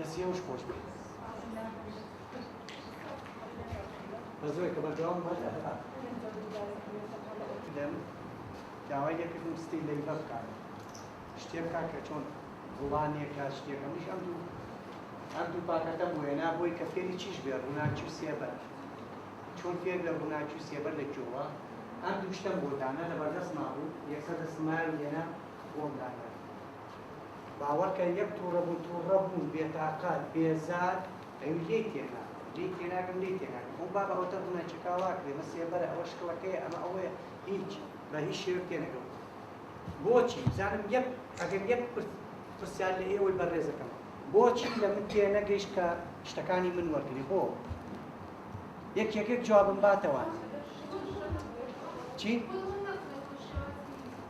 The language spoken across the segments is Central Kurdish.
دەستی ئەوش خۆش بێت بەزۆی کە بەردەوام بەر ئەفا دەم داوای لێکردم ستی لەی بە بکات شتێ بکات کە چۆن ڕوانیەکە شتێکە مش ئەم دوو ئەم دوو پاکەتە بۆێنا بۆی کە فێری چیش بێ ڕووناچی و سێبەر چۆن فێر لە ڕووناچی و سێبەر لە کێوە ئەم دوو شتەم بۆ دانا لە بەردەست مابوو یەکسەر دەسمایان لێنا بۆم دانا باوەڕکە یەک توڕە بوو توڕە بوو بێتاقەت بێزار ئەوی لێی تێناگەم لێی تێناگەم لێی تێناگەم ئەو بابە ئەوەتە ڕوونە چەکاڵا کرێ مە سێبەرە ئەوە شکڵەکەیە ئەمە ئەوەیە هیچ بە هیچ شێوەک تێنەگەم بۆچی بزانم یەک ئەگەر یەک پرس پرسیار لە ئێوەی بەڕێزەکەم بۆچی لە من تێ نەگەیشت کە شتەکانی من وەرگری بۆ یەک یەکێک جوابم باتەوە چی؟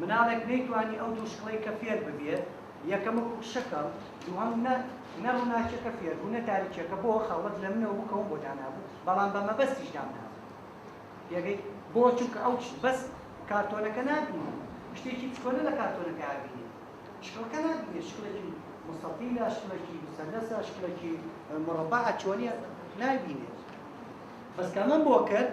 مناڵێک نەیتوانی ئەو دوو شکڵەیکە فێر ببێ یەکەم وەکو کشەکەم دووهەم نە نە ڕوناکیەکە فێر بوو نە تاریکیەکە بۆ خەڵوەت لە منەوە بوو کە وم بۆ دانابوو بەڵام بە مەبەستیش دام نابوو پێگەی بۆ چونکە ئەو چ بەس کارتۆنەکە نابینی شتێکی چکۆلە لە کارتۆنەکە ئابینی شکڵەکە نابینی شکڵێکی مستەتیلە شکڵێکی مسەلەسە شکڵێکی مڕەبەعە چۆنیە نابینێ بەس کەمەم بۆ کرد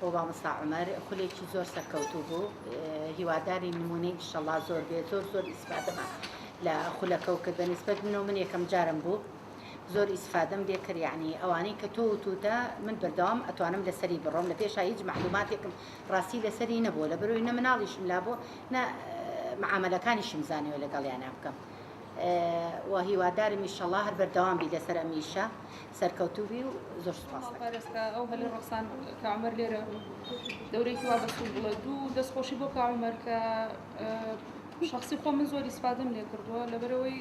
بۆ مامۆستا عومەر خولێکی زۆر سەرکەوتوو بوو هیوادارین نمونەی ئیشەڵا زۆر بێ زۆر زۆر ئیسفادەمان لە خولەکەو کرد بەنسبەت منەوە من یەکەم جارم بوو زۆر ئیسفادەم لێ کرد یعنی ئەوانەی کە تۆ وتوتە من بەردەوام ئەتوانم لەسەری بڕۆم لە پێشا هیچ معلوماتێکم ڕاستی لەسەری نەبوو لە بەرۆی نە مناڵیشم لا بۆ نە معاملەکانیشم زانیوە لەگەڵیانە بکەم و هیوادارم ئیشەڵا هەر بەردەوام بی لەسەر ئەمیشە سەرکەوتوو بی و زۆر سوپاست دەکەم. مامە پارێزکا ئەو هەلی ڕەخسان کە عومەر لێرە دەورەیەکی وا بەسوود بڵێ دوو دەست خۆشی بۆ کاک عومەر کە شەخسی خۆ من زۆر ئیسفادەم لێ کردووە لەبەرەوەی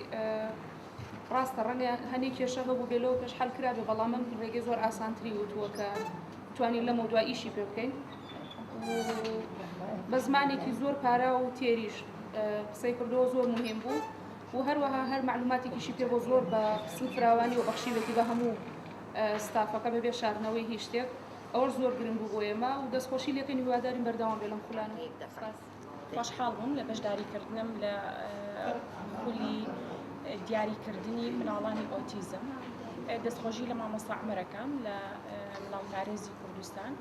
ڕاستە ڕەنگە هەنێ کێشە هەبوو بێ لەوە پێش حەل کرابێ بەڵام من ڕێگەی زۆر ئاسانتری وتووە کە توانین لەمە دو ئیشی پێ بکەین بە زمانێکی زۆر پارا و تێریش قسەی کردەوە زۆر مهم بوو و هەروەها هەر مەعلوماتێکیشی پێ بۆ زۆر بە سوود فراوانی و بەخشیوێتی بە هەموو ستافەکە بەبێ شاردنەوەی هیچ شتێک ئەوەش زۆر گرنگ بوو بۆ ئێمە و دەستخۆشی لێکەین هیوادارین بەردەوام بێ لەم خولانە. خۆشحاڵ بووم لە بەشداری کردنم لە خولی دیاری کردنی مناڵانی ئۆتیزم دەستخۆشی لە مامۆستا عومەر ئەکەم لە مناڵ پارێزی کوردستان.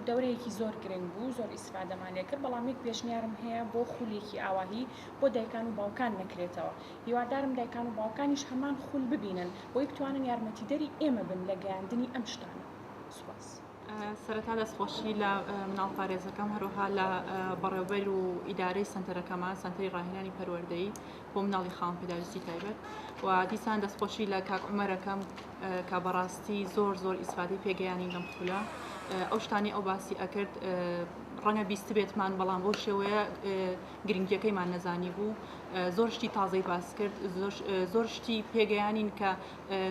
دەورەیەکی زۆر گرنگ بوو زۆر ئیسفادەمان لێ کرد بەڵام یەک پێشنیارم هەیە بۆ خولێکی ئاواهی بۆ دایکان و باوکان نەکرێتەوە هیوادارم دایکان و باوکانیش هەمان خول ببینن بۆی بتوانن یارمەتیدەری ئێمە بن لە گەیاندنی ئەم شتانە سوپاس. سەرەتا دەستخۆشی لە مناڵ پارێزەکەم هەروەها لە بەڕێوبەر و ئیدارەی سەنتەرەکەمان سەنتەری ڕاهێنانی پەروەردەیی بۆ مناڵی خاوەن پێداویستی تایبەت و دیسان دەستخۆشی لە کاک عومەرەکەم کە بەڕاستی زۆر زۆر ئیسفادی پێگەیانی لەم خولە ئەو شتانی ئەو باسی ئەکرد ڕەنگە بیست بێتمان بەڵام بۆ شێوەیە گرنگیەکەیمان نەزانی بوو زۆر شتی تازەی باس کرد زۆر شتی پێگەیانین کە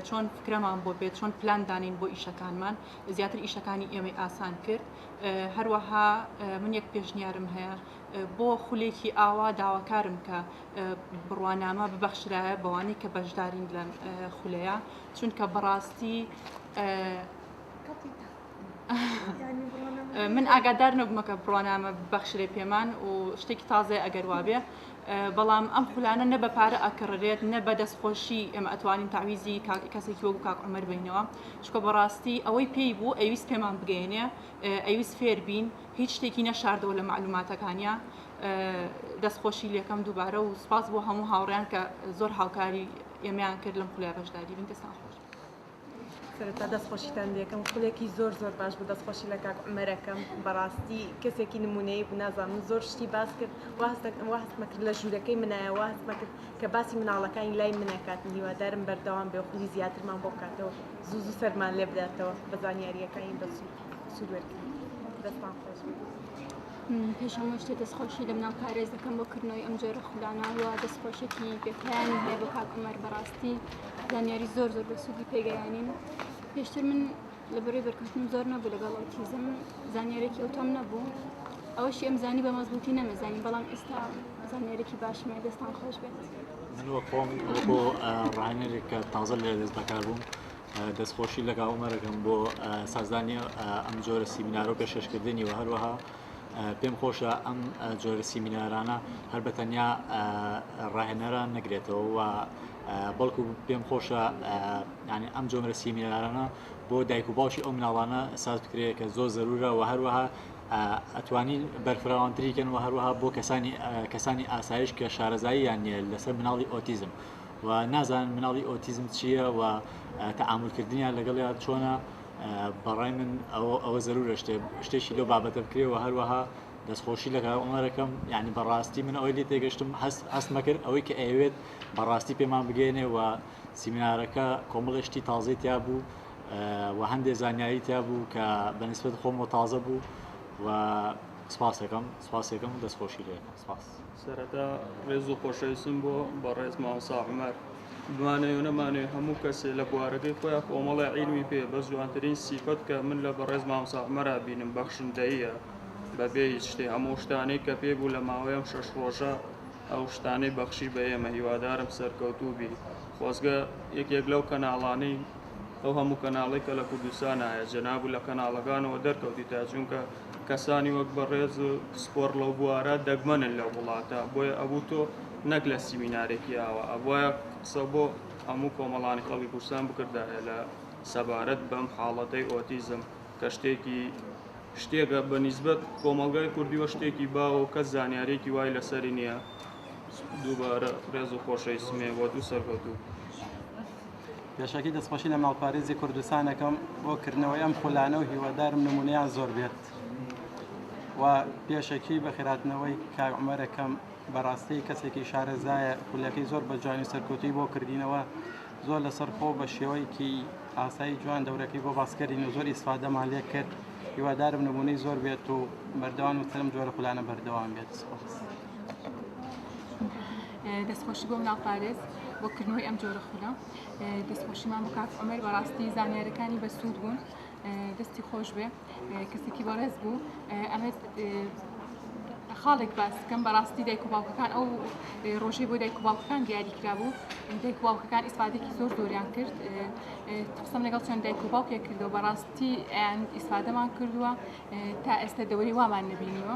چۆن فکرەمان بۆ بێت چۆن پلان دانین بۆ ئیشەکانمان زیاتر ئیشەکانی ئێمەی ئاسان کرد هەروەها من یەک پێشنیارم هەیە بۆ خولێکی ئاوا داواکارم کە بڕوانامە ببەخشرایە بەوانەی کە بەشدارین لەم خولەیە چونکە بەڕاستی من ئاگادار نەبوومەکە بڕوانامە بەخشرێ پێمان و شتێکی تازێ ئەگەر وابێ بەڵام ئەم خولانە نە بە پارە ئەکڕێت نە بە دەستخۆشی ئێمە ئەتوانین تاویزی کەسێکی وەک کاک عمر بینەوە چکە بەڕاستی ئەوەی پێی بوو ئەویست پێمان بگەێنێ ئەویست فێر بین هیچ شتێکی نەشاردەوە لە مەعلوماتەکانیا دەست خۆشی لەکەم دووبارە و سپاس بۆ هەموو هاوڕیان کە زۆر هاوکاری ئێمەیان کرد لەم خولای بەشداری بن دەستان خۆش سەرەتا دەست خۆشیتان لەکەم خولێکی زۆر زۆر باش بوو دەست خۆشی لە کاک عمەرەکەم بەڕاستی کەسێکی نمونەیە بوو نازان من زۆر شتی باس کرد وهستمەکرد لە ژوورەکەی منایە وهستمەکرد کە باسی مناڵەکانی لای منەکات هیوادارم بەردەوام بێ خولی زیاترمان بۆ بکاتەوە زوو زوو سەرمان لێ بداتەوە بە زانیاریەکانی بەسوود پێش هەموو شتێ دەستخۆشی لە مناڵ پارێز دەکەم بۆ کردنەوەی ئەم جۆرە خولانەوە دەستخۆشێکی بێپیانی هەیە بۆ کاک عومەر بەڕاستی زانیاری زۆر زۆر بە سوودی پێگەیانین پێشتر من لە بەرەی بەرکەوتن زۆر نەبوو لەگەڵ ئۆتیزم زانیارێکی ئەوتۆم نەبوو ئەوەشی ئەم زانی بە مەزبووتی نەمەزانی بەڵام ئێستا زانیارێکی باشمە دەستان خۆش بێت من وە خۆم بۆ ڕانەرێک کە تازە لە دەست بەکار بووم دەستخۆشی لە کاک عومەر دەکەم بۆ سازدانی ئەم جۆرە سیمینارە و پێشکەشکردنی و هەروەها پێم خۆشە ئەم جۆرە سیمینارانە هەر بە تەنیا ڕاهێنەران نەگرێتەوە و بەڵکو پێم خۆشە ینی ئەم جۆرە سیمینارانە بۆ دایک و باوکی ئەو مناڵانە ساز بکرێت کە زۆر زەرورە و هەروەها ئەتوانین بەرفراوانتریکەن و هەروەها بۆ کەسانی کەسانی ئاسایش کە شارەزاییان نیە لەسەر مناڵی ئۆتیزم و نازانن مناڵی ئۆتیزم چییە و تەعامول کردنیان لەگەڵیا چۆنە بەڕای من ئەوە زەرورە شتێ شتێکی لەو بابەتە بکرێ و هەروەها دەستخۆشی لە کاک عومەرەکەم یعنی بەڕاستی من ئەوەی لێ تێگەشتم هەست هەستمە کرد ئەوەی کە ئەیەوێت بەڕاستی پێمان بگەێنێ و سیمینارەکە کۆمەڵێ شتی تازەی تیا بوو و هەندێک زانیاری تیا بوو کە بەنسبت خۆم و تازە بوو و سپاسەکەم سپاسەکەم دەستخۆشی لێ سپاس سەرەتا ڕێز و خۆشەویستم بۆ بەڕێز مامۆستا عومەر بمانەوێ و نەمانەوێ هەموو کەسێ لە بوارەکەی خۆیان کۆمەڵی عیلمی پێ بە جوانترین سیفەت کە من لە بەڕێز مامۆستا عومەرا بینم بەخشندەییە بەبێ هیچ شتێ هەموو شتانەی کە پێ بوو لە ماوەی ئەم شەش ڕۆژە ئەو شتانەی بەخشی بە ئێمە هیوادارم سەرکەوتوو بی خۆزگە یەکێک لەو کەناڵانەی ئەو هەموو کەناڵی کە لە کوردستان هەیە جەنابو لە کەناڵەکانەوە دەرکەوتیتە چونکە کەسانی وەک بەڕێز و پسپۆڕ لەو بوارە دەگمەنن لەو وڵاتە، بۆیە ئەبوو تۆ نەک لە سیمینارێکی ئاوا، ئەبوایە قسە بۆ هەموو کۆمەڵانی خەڵکی کوردستان بکردایە لە سەبارەت بەم حاڵەتەی ئۆتیزم کە شتێکی، شتێکە بە نیسبەت کۆمەڵگای کوردیوە شتێکی باوە و کەس زانیارییەکی وای لەسەری نییە، دووبارە ڕێز و خۆشەویستم هەیە بۆت و سەرکەوتوو بیت. پێشەکی دەستخۆشی لە ماڵپارێزی کوردستان ئەکەم بۆ کردنەوەی ئەم خولانە و هیوادارم نمونەیان زۆر بێت و پێشەکی بە خێراتنەوەی کاک عومەر ئەکەم بەڕاستی کەسێکی شارەزایە خولەکەی زۆر بە جوانی سەرکەوتووی بۆ کردینەوە زۆر لەسەر خۆ بە شێوەیەکی ئاسایی جوان دەورەکەی بۆ باسکردین و زۆر ئیسفادەمان لێ کرد هیوادارم نمونەی زۆر بێت و بەردەوام وترم جۆرە خولانە بەردەوام بێت سپاس. دەست خۆشی بۆ مناڵ پارێز بۆ کردنەوەی ئەم جۆرە خولە دەست خۆشیمان بۆ کاک عمر بەڕاستی زانیارەکانی بەسوود بوون دەستی خۆش بێ کەسێکی بەڕێز بوو ئەمەت خاڵێک باسکەم بەڕاستی دایک و باوکەکان ئەو ڕۆژەی بۆ دایک و باوکەکان دیاری کرابوو دایک و باوکەکان ئیسفادێکی زۆر زۆریان کرد قسم لەگەڵ چۆن دایک و باوکێک کردەوە بەڕاستی ئەیان ئیسفادەمان کردووە تا ئێستا دەوری وامان نبینیوە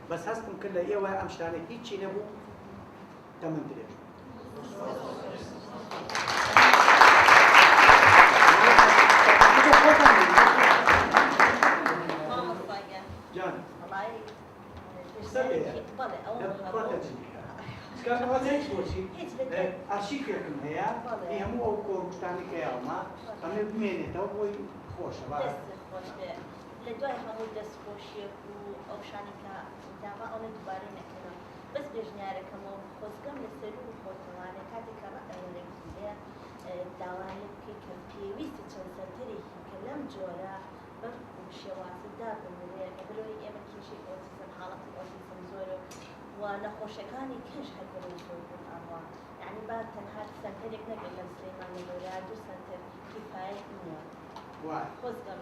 بەس هەستم کرد لە ئێوە ئەم شتانە هیچی نەبوو تەمەن درێژ ئەرشیکێکم هەیە هەموو ئەو کۆمپتانی کەیاڵما ئەمێ بمێنێتەوە بۆی خۆشە لە دوای هەموو دەست خۆشیەک و ئەو شانەی کە داما ئەونە دوبارەی نەکەنەوە بەس بێژنیارەکەمەوە خۆزگەم لە سەرو بخۆتەوە لە کاتێک کە ڕەئ وەرە گیرێ داوا لێ بکەی کە پێویستە چەند سەنتەرێکی کە لەم جۆرە بەم شێوازە دا بنرێ لە بەرەوەی ئێمە کێشەی ئۆتیزم حاڵەتی ئۆتیزم زۆرە و نەخۆشەکانی کەش هەر بەرەو زۆر بون ئەڕوا یانی با تەنها سەنتەرێک نەبێ لە سلیمانی لۆرا دوو سەنتەر کیفایەت نیە خۆزگەم.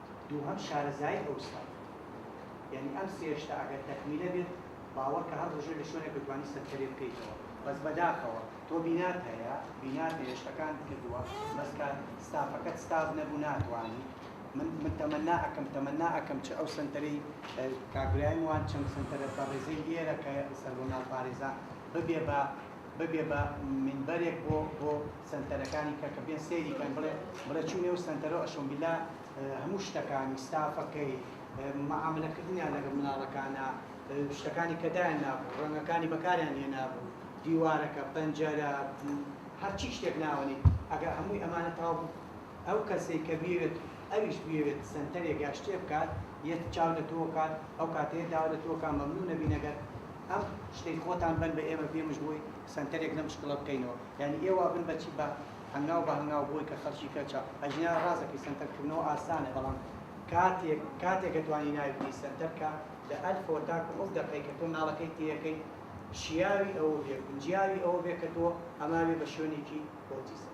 دووهەم شارەزایی ئەو ستافە یانی ئەم سێ شتە ئەگەر تەکمیلە بێت باوەڕکە هەر ڕژێ لە شوێنێک دەتوانی سەرکەرێ بکەیتەوە بەس بەداخەوە تۆ بینات هەیە بینات هەیە شتەکانت کردووە بەس کە ستافەکەت ستاف نەبوو ناتوانی من من تەمەنا ئەکەم تەمەنا ئەکەم چ ئەو سەنتەرەی کاک برایم وان چەند سەنتەرە بەڕێزەی لێرە کە سەربەمال پارێزان ببێ بە ببێ بە مینبەرێک بۆ بۆ سەنتەرەکانی کە کە بێن سەیری کەن بڵێ بڵێ چوو نێو سەنتەرۆ ئەشۆمبیلا هەموو شتەکانی ستافەکەی معاملە کردنیان لەگە مناڵەکانە شتەکانی کە دایان نابوو ڕەنگەکانی بەکاریان هێ نابوو دیوارەکە پەنجەرە هەرچی شتێک ناوەنی ئەگە هەمووی ئەمانە تاو بوو ئەو کەسەی کە بێت ئەویش بێت سنتەرێک یا شتێ بکات یەت چاو لە تۆ کات ئەو کاتەیە داوا لە تۆکان مەمنوو نەبینەگەر ئەم شتەی خۆتان بن بە ئێمە پێمش بووی سەنتەرێک لەم شکڵە بکەینەوە یانی ئێوا بن بەچی بە هەنگاو بە هەنگاو بۆی کە خەلکی کەچە ئەجینا ڕازەکەی سەنتەر کردنەوە ئاسانە بەڵام کاتێک کاتێکە توانی ناوی بنی سەنتەر کە لە ئەلفەوە تاکو ئەو دەقەی کە تۆ ناڵەکەی تێیەکەی شیاوی ئەوە بێ گونجیاوی ئەوە بێ کە تۆ ئەماوێ بە شوێنێکی ئۆتیزم.